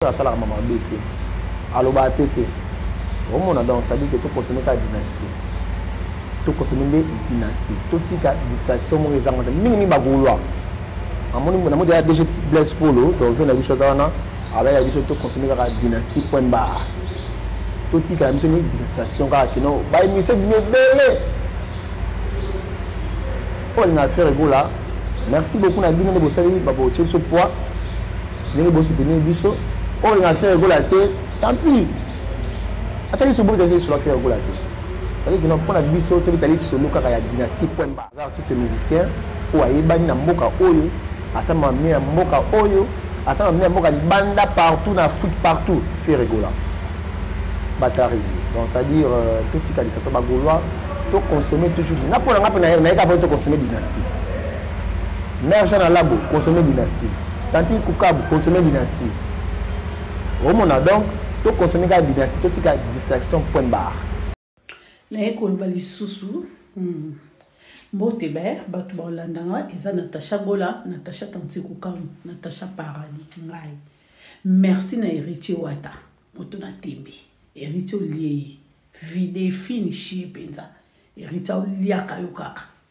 oyo asalaka mama mabe te alobaka te te omona donc sadi ke tokosome kaka dynastie tokosome nde dynastie totika distraction moko ezanga te mingi mingi bagolwa namoni ya dg blaise polo donve na biso aza wana abayaka biso tokonsome kaka dynastie point bar totikala biso ni distraction kaka kino baemission bino ebele oyo na affaire egola merci beaucoup na bino nde bosali babotie biso poids ndenge bo soutenir biso oyo oh, na faire gola te tant pis ata biso bo tali sur faire gola te ça veut dire que pona biso to tali solo kaka ya dynastie point bas artiste musicien oyo ayebani na mboka oyo asama mie na mboka oyo asama mie na mboka libanda partout na afrique partout faire gola batari donc c'est à dire euh, totika lisasa bagolois to consommer toujours na pona nga pe na ye na ye ka pe to consommer dynastie Mère Jeanne Alabo, consommer dynastie. Tantine Kukabu, consommer dynastie. Omona donc, to consommer ka dynastie, to tika distraction point barre. Naye koloba lisusu. Hmm. Mbote be, bato ba olandanga, eza Natacha Gola, Natacha Tantine Kukabu, Natacha Parani, ngai. Merci na Heritier Wata, moto na tembe. Heritier olie ye. Vide, finish ye penza. Heritier oliaka yo kaka.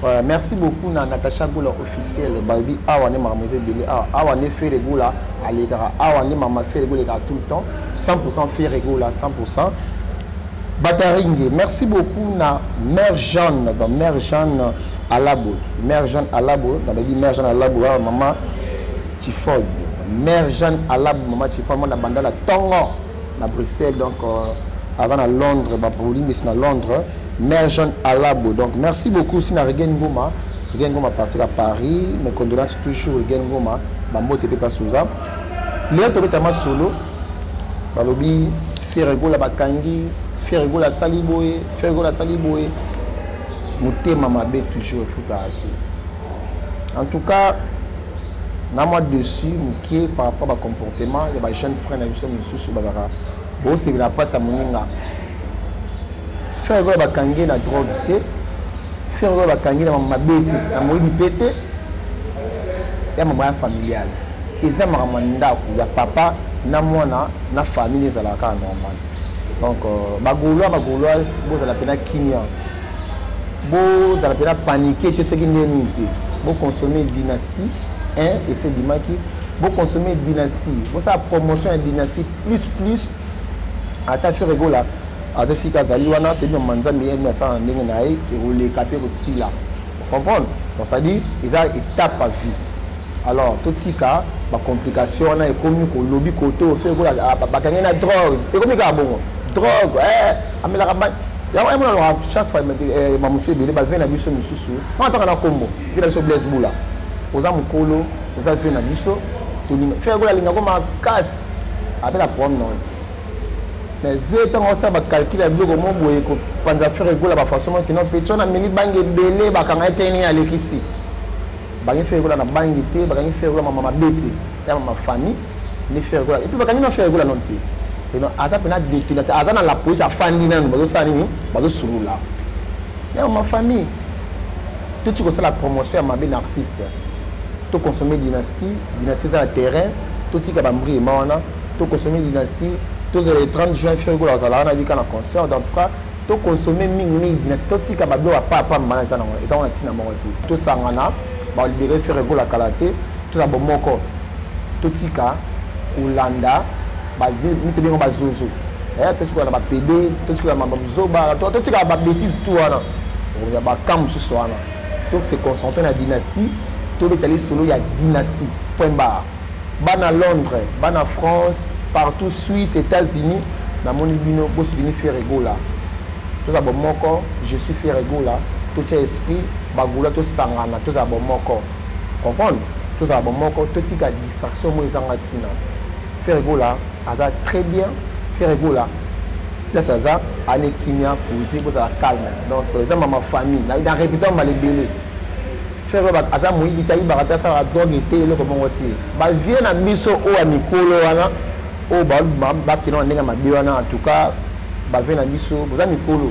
Voilà, merci beaucoup na Natacha Goula officiel Barbie awa ne makambo eza ebele awa awa nde Ferre Goula alekaka awa nde mama Ferre Goula elekaka tout le temps 100% Ferre Goula 100% Bataringe merci beaucoup na mère Jeanne dans mère Jeanne Alabo mère Jeanne Alabo nabaki mère Jeanne Alabo awa mama Tiford mère Jeanne Alabo mama Tiford mwana bandala tongo na bruxelles donc euh, aza na londres babolimbisi na londres mère jeune alabo donc merci beaucoup si na regen ngoma regen ngoma partir à paris mes condoléances toujours regen ngoma bambote mpe mpasi oza lelo tobeta masolo balobi feregola bakangi feregola asali boye feregola asali boye motema mabe toujours efutaka te En tout cas, na mwa dessus mokie par rapport ba comportement ya ba jeune frère na biso mosusu bazalaka bosepela mpasi ya moninga frère oyo bakangi ye na drogue te frère oyo bakangi na mabe te na moyibi mpe te ya mama ya familiale eza makambo ya ndako ya papa na mwana na famille ezalaka kaka normal donc euh, bagolois bagoloise bozala mpena kimia bozala mpena panike te soki nde nini te boconsome dynastie 1 esi ebimaki boconsome dynastie bosala promotion ya dynastie plus plus ata fere egola aza esika azali wana toyebi mama nzambe ye asala na ndenge na ye ekoleka mpe kosila comprendre donc c'est-à-dire eza étape à vie alors totika bacomplication wana ekomi kolobi koto ofe bakangi na drogue ekomi kaka bongo drogue eh, amelaka bani yango ye monaloka chaque fois eh, bamosu ebele bave na biso mosusu wana ntaka na nkombo vie na biso blaise bula oza mokolo oza vie na biso tolinga fere kola alingako makasi ape na problème na te mais vie ntango osala bacalcule ya biloko mo boye kopanza fere ekola bafaçon mo kino mpe tiona meli bange ebele bakanga ete nini alekisi bangi fere ekola na bangi te bakangi fere ekola mama mabe te ya mama famille ni ferre gola epuis bakangi na ferre gola nano te sino aza mpena dekila te aza na la police afandi nanu bazosala nini bazosulula yango ma famille toti kosala promotion ya mabe na artiste toconsomme dynastie dynastie eza na terrain totika bambriema wana toconsomme dynastie tozala le 30 juin ferre gola azala wana bika na concert donc cas toconsomme mingimingi dynastie totika bablo ya papa mbana eza nango eza wana ntina moko te tosangana balibere ferre gola kala te tozala bomoko totika kolanda mite bengo bazozo eh, totikala na bapede totikala na bazoba totikala babétise tu wana ya baka mosusu wana to se concentre na dynastie tobeta lisolo ya dynastie point bar bana londres bana france partout suisse états-unis namoni bino bosudini ferregola toza bomoko je suis ferregola totya esprit bagola tosangana tozala bomoko comprendre tozala bomoko totika distraction moko ezanga ntina frère egola aza très bien frère egola place aza ane kimia pose bozala calme donc euh, eza mama famille na répétant mbala ebele frère aza moyibi te ayibaka te asalaka drogue te eloko bongo te bavie na biso oyo ya mikolo wana oyo bakenda na ndenge ya mabe wana en tout cas bavie na biso boza mikolo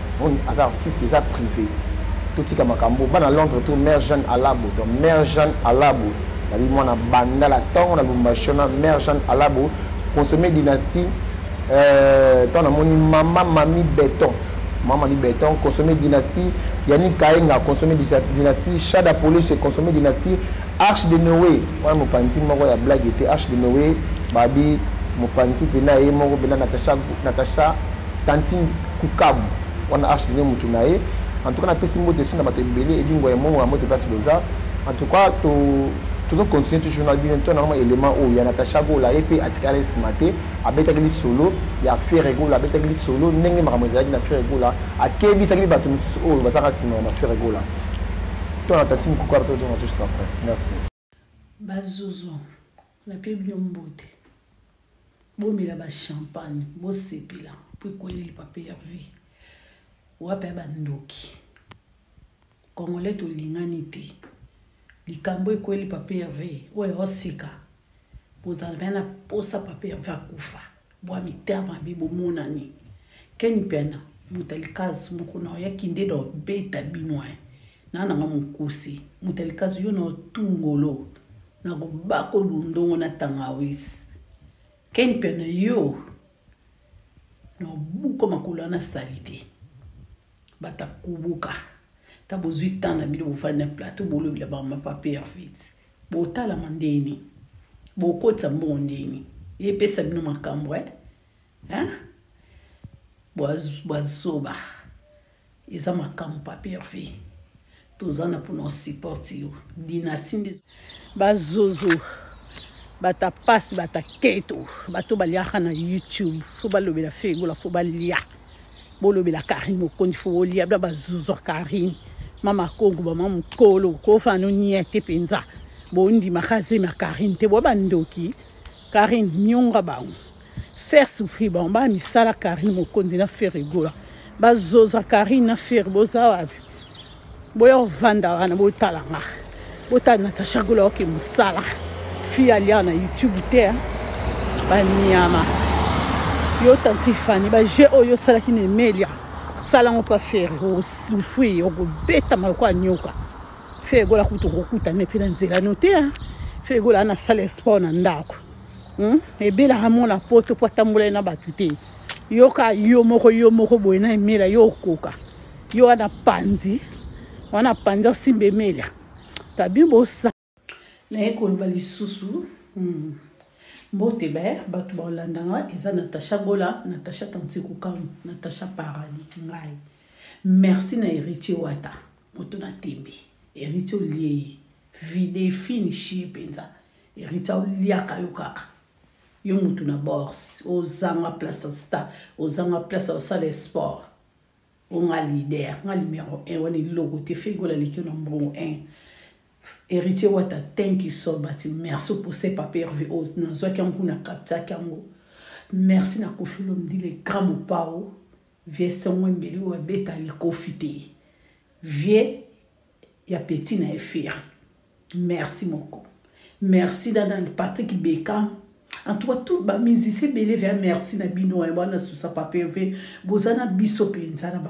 Bon, aza artiste eza privé. Totika makambo bana Londres tout mère Jeanne Alabo. Donc mère Jeanne Alabo nabi mwana bandala tongo na Lubumbashi na mère Jeanne Alabo consommer dynastie euh tant namoni maman mami béton. Maman mami béton consommer dynastie Yannick Kaenga consommer dynastie Shada Police consommer dynastie Arche de Noé. Wana mopanzi moko ya blague était Arche de Noé babi mopanzi pena ye moko pena Natacha Natacha Tantine Kukabu wana Arche Lino mutu na ye en tout cas napesi mbote esu na bato ebele elingwa ya mongo ya mbote place boza en tout cas to tozo continuer toujours na bino to na mwa element oyo ya Natacha Gola ye mpe atikala nsima te abetaki lisolo ya Ferre Gola abetaki lisolo ndenge makambo ezalaki na Ferre Gola akebisaki bato mosusu oyo bazalaka nsima ya Ferre Gola to na Tantine Kukabu to na toujours après merci Ba zozo na pie bino mbote bomela ba champagne bosepela po ekweyeli papa Herve wapi ya ba ndoki congolais tolingani te likambo ekweyeli papa Herve oyo aoseka bozalaka na posa papa Herve akufa. Bwa mitema mabe bomonani. Ken mpiana muta likazu mukuna oya kinde do beta bino hein na nanga mukuse muta likazu yo no tu ngolo nako bako lundongo na tangawis ken mpiana yo no buko makolo wana salite. Batakubuka ta bozui temps na bino bovandi na plateau bolobela ba mapa perfit botalama ndenge nini bokotisa mbongo ndenge nini epesa bino makambo eh hein bwa zoba eza makambo pa perfit Toza na pona o support yo dynastie nde. Ba zozo bata pasi bata keto bato baliaka na youtube fo balobela fe egola fo balia bolobela karine mokondi fo bolia bla bazuzu ya karine mama kongo bama mokolo kofa no nie te mpenza bondimaka zemi ya karine te boa bandoki karine nionga bango Ferre souffrir bango ba misala Carine Mokonzi na Ferre Gola ba zoza Carine na Ferre boza wapi boya ovanda wana botala nga botala Natacha Gola oke musala fille alia na YouTube te hein. ba niama yo tanti Fanny ba jeu oyo osalaki na Emelia sala ngo pa Ferre osufri okobeta maloko anyoka Ferre Gola kutu okokutana pe na nzela no te hein. Ferre Gola ana sala sport na ndako Hmm? ebelaka mwana poto mpo atambolai na bato te yoka yo moko yo moko boye na emela yo okoka yo wana panzi wana panzi osimba emela tabi bosa naye koloba lisusu hmm. mbote be bato baolanda nga eza natacha gola natacha tantikukamu natacha parani ngai merci na héritier wata moto na tembe héritier olie ye vide finishi ye mpenza Heritier oliaka yo kaka yo mutu na bors ozanga place ya sta ozanga place ya osala esport o nga leader nga numero un wana eloko te ferre gola aleki yo na mbongo un Heritier wata thank you so but merci pour ce papa Herve o nazwaki yango kuna captaki yango merci na koffi olomide le grand mopao vieux songwe mbeli oyo abeta likofi te vieux ya petit na ye ferre merci moko merci na nani Patrick Beckham en tout cas tout ba musiciens ebele vea merci na bino eh, bana susa papeve boza na biso penza na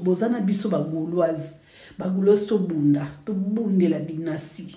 boza na biso ba gauloise ba gauloise tobunda tobundela dynastie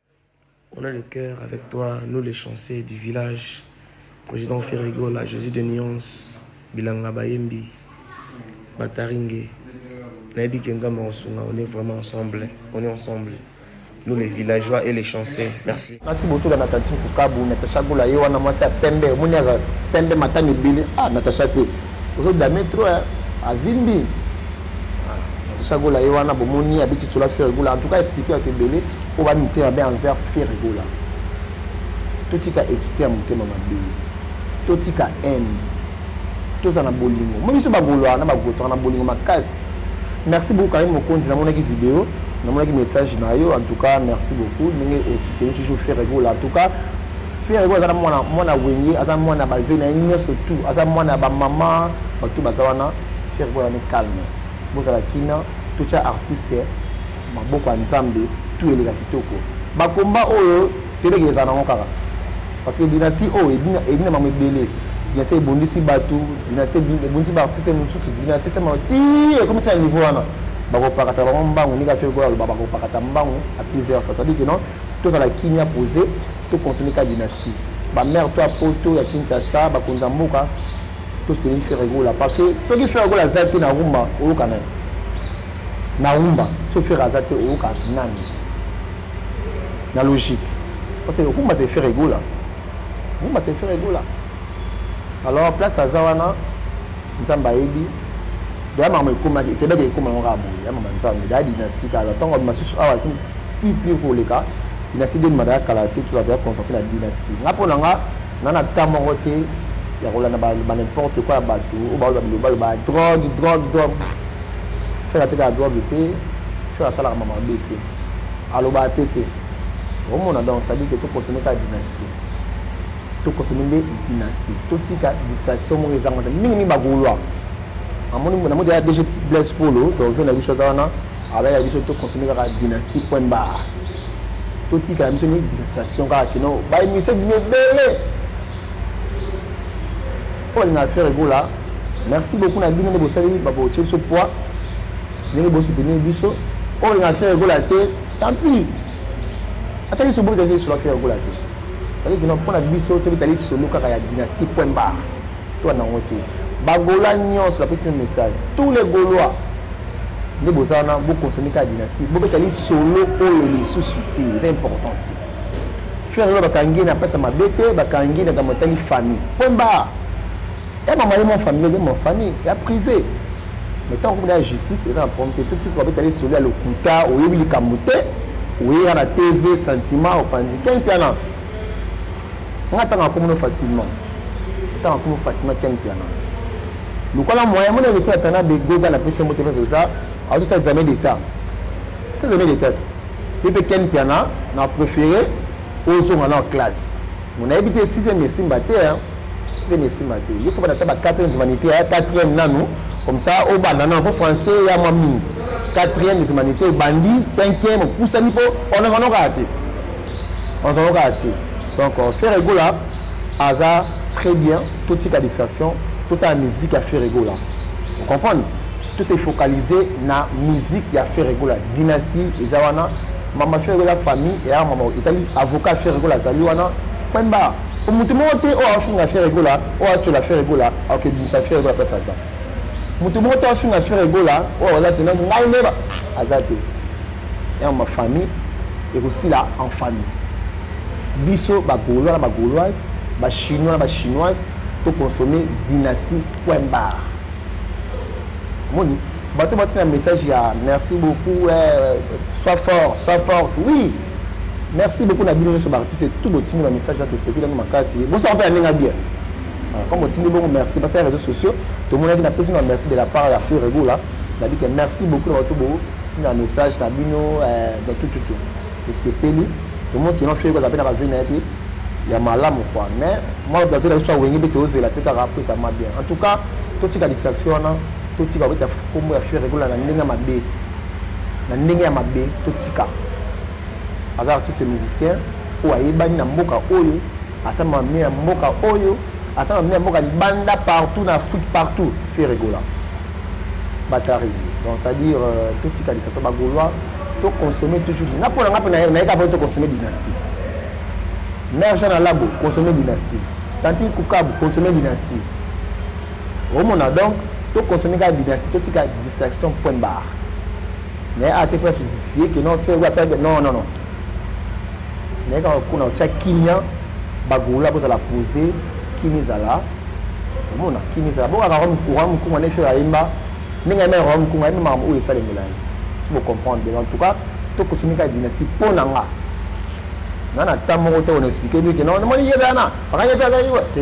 On a le cœur avec toi nous les chanceux du village president Ferre Gola Jesus de nuance bilanga bayembi bataringe nayebi ke nzambe akosunga on est vraiment ensemble on est ensemble nous les villageois et les chanceux merci merci beaucoup la natati kukabu natacha gola ye wana mwasi ya pembe omoni aza pembe matami ebele ah natacha pe ozo dame trop hein avimbi Tisha Gola ye wana bomoni abeti tola Ferre Gola en tout cas expliquer bato ebele oyo ba mitema mabe envers Ferre Gola totika esprit ya motema mabe totika haine toza na bolingo moi biso bagoloa na bagotaka na bolingo makasi merci beaucoup karim mokonzi namonaki video namonaki message na yo en tout cas merci beaucoup ndenge osuteni toujours Ferre Gola en tout cas ferre oyo aza na mwana mwana wenge aza mwana ya bave na ye nyonso tout aza mwana ya bamama bato baza wana ferre oyo azani calme bozala kina totya artiste maboko ya nzambe tout eleka kitoko bakomba oyo tebeke ezala nango kaka parce que dynastie oyo ebina mama ebele dynastie ebondisi bato dynastie ebondisi baartiste mosusu dynastie sema ti ekomi ti na niveau wana bakopakata bango mbangu ndenge afeki oyo aloba bakopakata mbangu a plusieurs fois sadike non Tozala kimia pose to consommer ka dynastie. Ba mère toi poto ya Kinshasa ba konza mboka to soutenir Ferre Gola parce que soki Ferre Gola aza te na rumba oyoka nani? Na rumba so Ferre aza te oyoka nani? Na logique parce que rumba c'est Ferre Gola. Rumba c'est Ferre Gola. Alors place aza wana nzambe ayebi deya makambo ekomaki ekebaki ekoma yango kaka boye ya mama nzambe deya dynastie kaka ntango masusu awa plus plus koleka dynastie de madaya kala te tozala deya concentre na dynastie nga mpo na nga nga na temps moko te ya kolanda banimporte kua ya bato oyo baoyo babilobaloba drogue drogue drogue fere atekaka drogue te fere asalaka mama mabe te alobaka te te omona donc sadike tokosomeka dynastie tokosombi nde dynastie totika distraction moko ezanga te mingi mingi bagaulois amoni na modi ya dg blaise polo dove na biso aza wana abayaka biso tokonsombi kaka dynastie point bar totikala biso ni distraction kaka kino baemission bino ebele oyo alinga affaire egola merci beaucoup na bino nde bosali babotie biso poids ndenge bosoutenir biso oyo alinga affaire egola te tant pis ata liso bobeta liso na fiya kola te sali kino mpo na biso tobeta lisolo kaka ya dynastie point bar to ya nango te bagola nyonso napesi na message tous les golois nde boza wana bokonsome kaka dynastie bobeta lisolo oyo lisusu te eza important te frère oyo bakangi na mpasa mabe te bakangi na kambo etali famille point bar ya mama ye mwa famille ye mwa famille ya privé mais ntango komona ya justice eza na problème te tout soki babetali solo ya lokuta oyebi likambo te oyeka na tv sentiment opanzi ken mpiana nga ntango akomono facilement ntango akomo facilement ken mpiana lokola moyen mona eketi ya tana begoga na pesi moto mpesa oza azosala examen d'état esa examen d'état ti ye mpe ken mpiana na préféré ozonga na classe Bon, nayebi te sixième esimba te hein. sixième esimba te ye fo banata ba quatrième humanité ya quatrième nanu comme ça obanda nanu po français ya mwa mingi quatrième humanité obandi cinquième opusani po onazano kaka te onazano kaka te donc euh, faire egola aza très bien totika distraction totala musique ya faire egola comprendre tose focaliser na musique ya faire egola dynastie eza wana Mama Ferre la famille et mama etali avocat Ferre Gola azali wana pemba mutu moko te oyo afinga Ferre Gola oyo atyola Ferre Gola akoki bimisa Ferre Gola place aza mutu moko te afinga Ferre Gola oyo aza tena ngai nde aza te ya mama famille ekosila en famille biso bagolois na bagoloise bachinois na bachinoise toconsomme dynastie poimbar moni bato batina message ya merci beaucoup eh, soit fort soit forte oui merci beaucoup na bino nyonso baartiste tout botindi bamessage ya toseki nano makasi bosaka mpe ya ndenge bien ah, comme otindi bongo merci basa ya réseaux sociaux tomonaki napesi na merci de la part ya feu regola nabi ke merci beaucoup na bato botinda message na bino eh, na tututu tosepeli tomoni kino feu regola mpe na bavie na ye te ya malamu kua mais mwa bato na biso awenge mpe tozela te kaka mpo ezama bien en tout cas totika distraction wana totika kobeta kombo ya ferre gola na ndenge ya mabe na ndenge ya mabe totika aza artiste musicien oyo ayebani na mboka oyo asama mie ya mboka oyo asama mie ya mboka libanda partout na afrique partout ferre gola batari donc c'est à dire euh, totika lisasa bagolois toconsomme toujours nga mpo na nga mpe nayeka mpo toconsomme dynastie mère jean alago consomme dynastie tantine kukabu consomme dynastie omona donc to consommer kaka dynastie totika distraction point barre mais awa te mpe justifier que non fergo asala non non non naye kaka kuna otya kimia bagolola bozala pose kimi ezala omona kimi ezala bokaka roi mokunga ne fere ayemba ndenge ayemba roi mokunga ayemba makambo oyo esalemela ye so bocomprendre bien en tout cas tokosumi kaka dynastie mpo na nga nga na temps moko te on explique bien que non namoni ye wana bakanyete azali te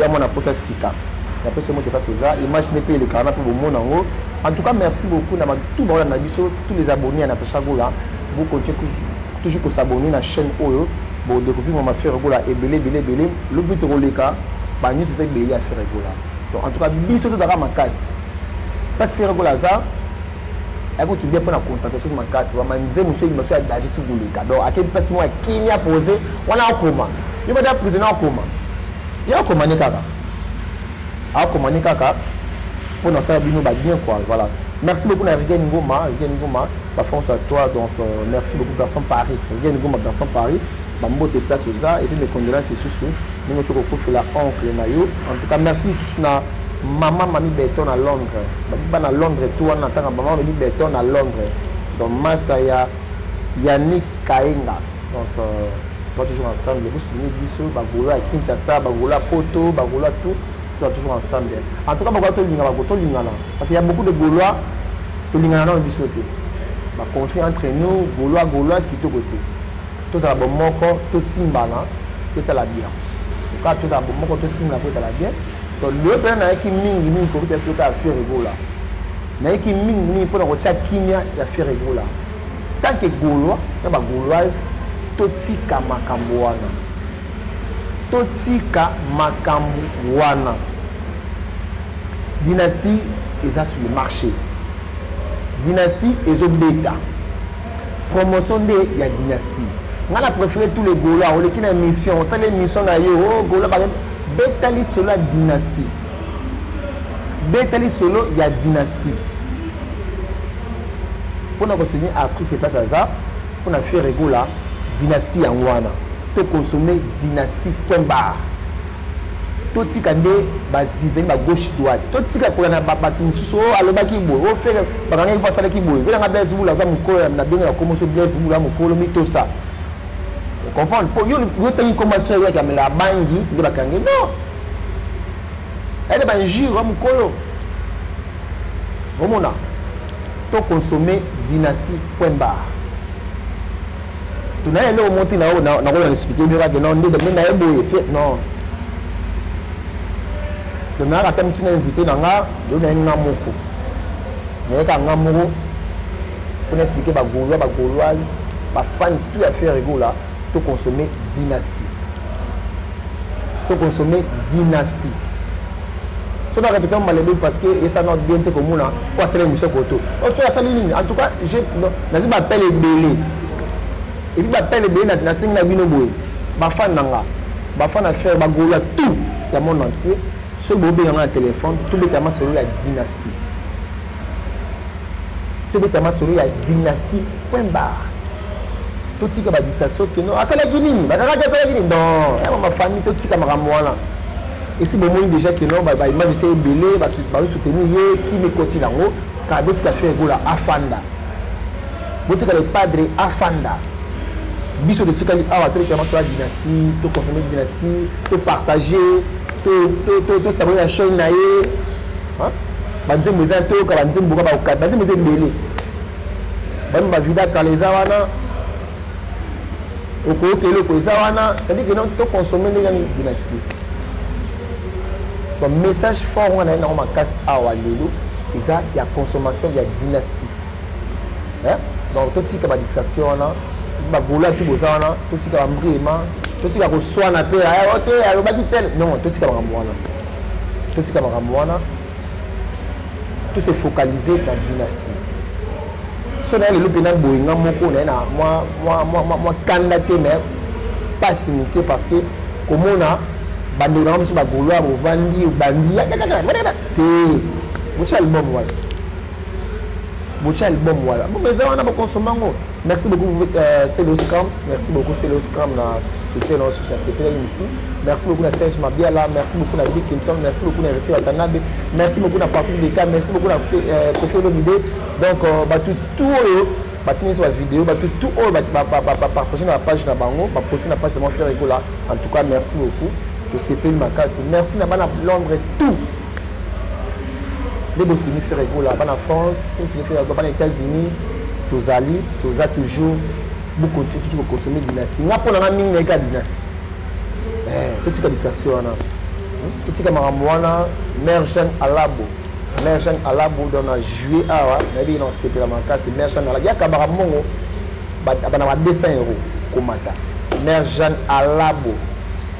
ya mwana pota sika ya pesa moto kati eza image nde mpe elekaka na mpe bomona yango en tout cas merci beaucoup na tout baola na biso tous les abonnés ya natacha gola vous continuez toujours kosabonner na chaîne oyo bodécouvrir mama fere gola ebele ebele ebele lobi tokoleka banyonso eza ebele ya fere gola donc en tout cas biso tozalaka makasi mpasi fere gola aza ayaki kotulia mpo na concentration so makasi bamanze mosusu elingi baso ya danger soki koleka donc akei mpasi moko ya kimia pose wana akoma yo bada prisonnier akoma ye akoma ne kaka akoma ne kaka mpo na sala bino babien quoi voilà merci beaucoup na rigen ngoma rigen ngoma bafonce à toi donc euh, merci beaucoup garçon paris rigen ngoma garçon paris bambote place oza epuis mes condolences lisusu ndenge ocoki kokufela oncle na yo en tout cas merci lisusu na Maman Mami Beton à Londres. Babiba na Londres tout wana tanga maman Mami Beton à Londres. Donc master ya Yannick Kaenga. Donc euh, toi toujours ensemble. Vous souvenez biso bagola à Kinshasa, bagola à Poto, bagola tout. Tu vas toujours ensemble. En tout cas bagola to lingana ko to lingana parce qu'il y a beaucoup de Gaulois to lingana na biso te. Ba conflit entre nous, Gaulois Gaulois qui to côté. Tout ça bon moko, tout simbana, tout ça la bien. Tout ça bon moko, tout simbana, tout ça la bien. loye mpena nayaki mingi mingi kobeta sikoyo kaka fiere egola nayaki mingi mingi mpo na kotya kimia ya fiere egola tant que gaulois na bagauloise totika makambo wana totika makambo wana dynastie eza sur le marché dynastie ezobeta promotion nde ya dynastie ngai na préféré tous les gaulois oleki na émission osali émission na yo o oh, gaulois beta lisolo ya dynastie beta lisolo ya dynastie mpo na kosoutenir artiste eplace aza mpo na faire egola dynastie yango wana to consommer dynastie point bar totika nde bazizani ba gauche droite totika kola na bato mosusu oyo oh, alobaki boye oyo oh, fere bakangaki mpo asalaki boye velanga blaise bula aza mokolo na ndenge na komoso blaise bula mokolo mitosa comprendre po yo yo tangi koma frère yaki amela abangi nde bakangi non ede bainjure wa mokolo omona to consomme dynastie point barre tuna ye eloko moti na oyo nakoya explike bino kake non ndede me naye boye fe non tonayaka ata mosi na invité na nga yo naye nga moko nayeka nga moko mpo na explike bagaulois bagauloise bafani tout ya ferre gola to consomme dynastie to consomme dynastie soki na répété malebe parce que esa na bien te komona po asala émission koto oso asali nini en tout cas nazwi bapele ebele epi bapele ebele nasengi na bino boye bafane na nga bafane na ferre bagolo ya tout ya monde entier soki bobenga nga na téléphone tobetama solo ya dynastie tobeta masolo ya dynastie point barre totika badistraction keno asalaki nini bakakaki asalaki nini non yango mafamille totika makambo wana esi bomoni déjà keno baimage esi ebele bazosoutenir ye kimi ekoti nango kaka botika fere gola afanda botika le padre afanda biso totikali awa tolekela maso ya dynastie toconsomme dynastie topartage tosabone na chaîne na ye banzembo eza toyoka banzembo ka baokati banzembo eza ebele bano bavida kala eza wana okoyoka eloko eza wana cestadire kena toconsomme ndenge nani dynastie donc message fort wana ye nango makasi awa lelo eza ya consommation ya dynastie donc totika badistraction wana bagola tu boza wana totika bambriema totika koswana mpe te alobaki tel non totika makambo wana totika makambo wana tout se focalise na dynastie so naye lelo mpena boye nga moko naye na mwa kanda te mais mpasi moke parce que komona bandeko nanga mosusu bagoloire ovandi obandi te motya album wana botia album wana album eza wana bakonsoma yango merci beaucoup euh, celoscam merci beaucoup celoscam na soutien na osusu nasepelaki miku merci beaucoup na serge mabiala merci beaucoup na big kinton merci beaucoup na héritier watanabe merci beaucoup na patrick beka merci beaucoup na euh, kofi olomide donc euh, bato tout oyo batindi biso bavideo bato tout oyo bapartage na bapage na bango baposti na page na mwa frère ekola en tout cas merci beaucoup tosepeli makasi merci na bana londres tout nde bozwini frere gola bana france continue frere gola bana états-unis tozali toza toujours bokontinue tuti kokonsome dynastie nga mpo na nga mingi nayika dynastie eh, totika distraction wana hmm? totika makambo wana mare jeanne alabo mare jeanne alabo don na juillet awa nayebi nasepela makasi mare jeanne alabo yakabaka mbongo bana ba 200 euro komata mare jeanne alabo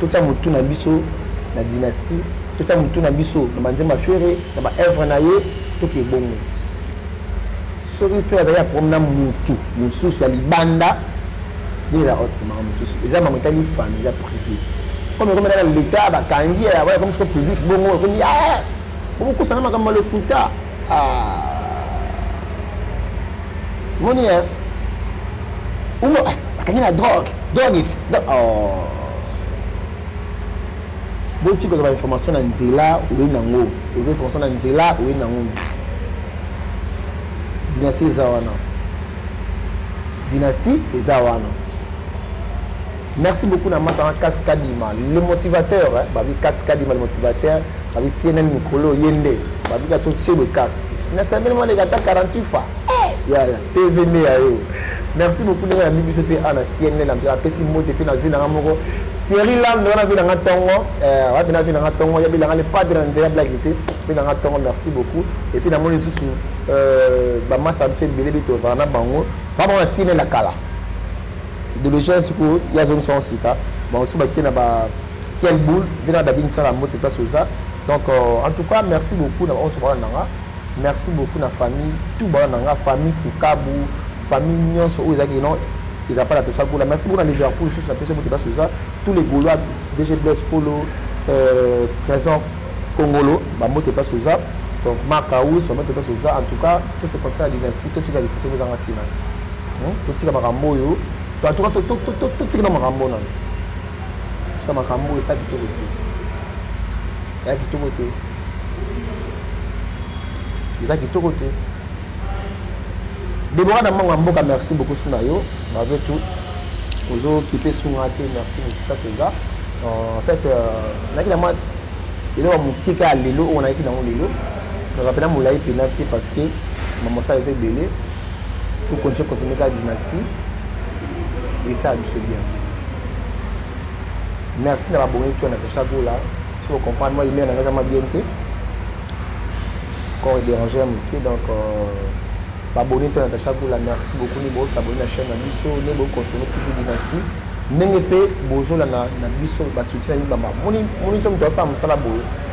totia motu na biso na dynastie totia motu na biso na banzemba fere na baevre na ye toke ebongo soki fere azali ya problème na motu mosusu ya libanda ndenge na autre maka mosusu eza mama etali fami eza privé comme ekomi na leta bakangi ekomi soko public bongo ekomi bokokosana makambo ya lokuta moni ye umo akangi na drogue drogue iti boti kozwa bainformation na nzela oyi nango oza information na nzela oyi nango dynastie eza wana dynastie eza wana Merci beaucoup na masanga kasi kadima le motivateur eh, babi kasi kadima le motivateur babi cnn mikolo ye nde babi kasi otie le kasi nasambeli mwa leka ata 48 fa ya ya tv nde ya yo merci beaucoup ndenge yambi biso mpe a na cnn na mzela apesi mbote mpe na vi nanga moko thierry lamde wana vi nanga ntongo eh, wapi na vi nanga ntongo yabi nanga le padre na nzela blaki te mpe nanga ntongo merci beaucoup epuis namoni lisusu euh, bamasa biso ebele bito ozala na bango ba bango na cnn ya kala idéologie ya sikoyo ye azongisa yango sika bango so bakie na ba quel boule mpe na david nsala mbote place oza donc euh, en tout cas merci beaucoup na baonso bawana nanga merci beaucoup na famille tout bawana nanga famille kukabu famille nyonso oyo ezalaki non eza mpa na pesa gola merci beaucoup na liverpool lisusu na pesa mbote place oza tous les golois dg blaise polo euh, trésor kongolo bambote place oza donc marc aus bambote place oza en tout cas to se constate na dynastie totika lisasi oyo ezanga ntina totika makambo oyo totika na makambo nano totika makambo oyo esa kitoko te ya kitoko te eza kitoko te debora na mbango ya mboka merci beaucoup su na yo malgré tout ozokipe sunga te merci beaucoup ça c'est ça en fait euh, nayaki na mwa eloko ya moke kaka lelo oyo nayaki nango lelo Kaka pena mulayi pena te parce que mamosala eza ebele to continue consommer kaka dynastie esala biso bien merci na babongi to na tacha gola si o comprendre moi imere na ngai eza ma bien te corps déranger ya moke donc euh, babongi to na tacha gola merci beaucoup ni bosa boni na chaîne na biso ne bo consommer toujours dynastie ndenge mpe bozolanda na biso basoutien na bino bamoni nso moto asala mosala boye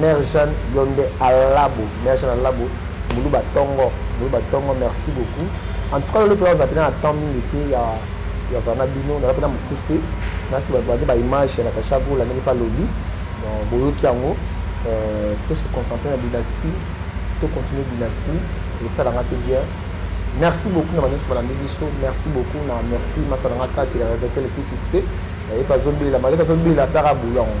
Mère Jeanne yonde alabo Mère Jeanne alabo muluba tongo muluba tongo merci beaucoup en tout cas lelo mpe naza mpe na temps mingi te ya yazala na bino naza mpe na mokuse nasi babandi baimage ya natacha gola ndenge mpe alobi boyoki yango euh, to se concentre na dynastie to continue dynastie esalanga mpe bien merci beaucoup na banyonso balandi biso merci beaucoup na merci masalanga kati ya resetel episiste ye mpe azobela maleka azobela ataka bulo yango